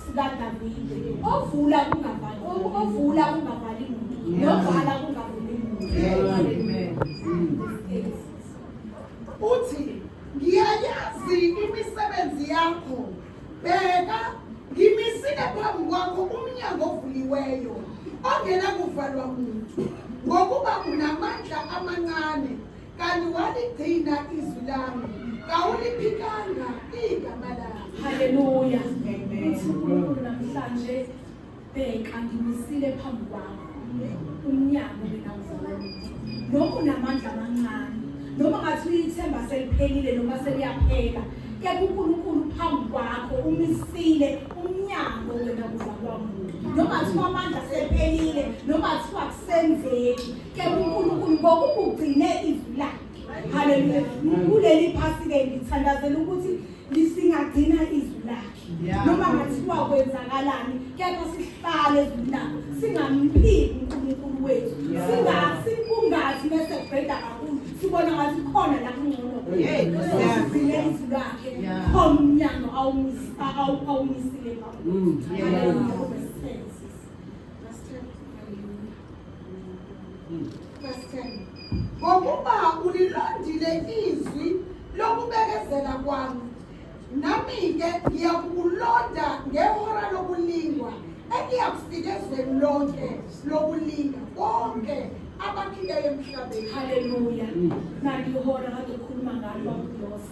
sikaDavide ovula kungavali ovula kungavali muntu novala kungavuli muntu uthi ngiyayazi imisebenzi yakho bheka ngimisile phambi kwakho umnyango ovuliweyo ongenakuvalwa muntu ngokuba unamandla amancane kanti waligcina izwi lami kawuliphikanga igama lami haleluya uthi unkulunkulu namhlanje bheka ngimisile phambi kwakho umnyango mina uzalaluthi noma unamandla amancane noma ngathi uyithemba seliphelile noma seliyaphela kepha unkulunkulu phambi kwakho umisile umnyango wena kuzalwa muntu noma kuthiwa amandla sephelile noma kuthiwa kusenzeki Kepha uNkulunkulu ngokukugcine izwi lakhe. Haleluya. Kuleli phasi ke ngithandazela ukuthi lisingagcina izwi lakhe. Noma ngathiwa kwenzakalani kepha sihlale ezwini lakhe singamphiki uNkulunkulu wethu. Singasi kungathi bese kubheda kakhulu sibona ngathi khona la kungcono. Hey, sizile izwi lakhe. Khona umnyango awumisa awumisile kakhulu. Mm. Haleluya. ngokuba ulilandile izwi lokubekezela kwami nami-ke ngiyakukulonda ngehora lokulingwa engiyakufika ezweni lonke lokulinga konke abakhileyo emhlabeni haleluya nalihora kade ukhuluma ngalo bakulosa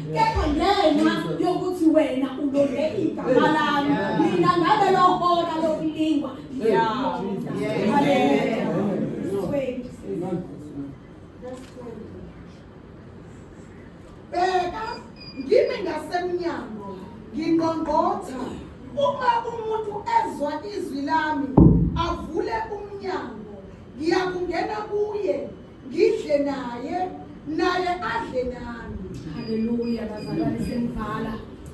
kepha ngenxa yokuthi wena ulonge igama lami mina ngabe lohora lokulingwa bheka ngimi ngasemnyango ngingqongqotha uma umuntu ezwa izwi lami avule umnyango ngiyakungena kuye ngidle naye naye adle nami haleluya bazalwane semvala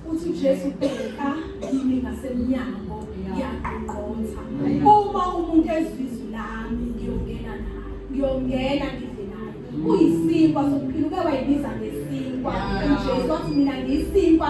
uthi uJesu bheka kimi ngasemnyango yaqonqotha uma umuntu ezizwe lami ngiyongena naye ngiyongena ngidle naye uyisinkwa sokuphila uke wayibiza ngesinkwa uJesu wathi mina ngiyisinkwa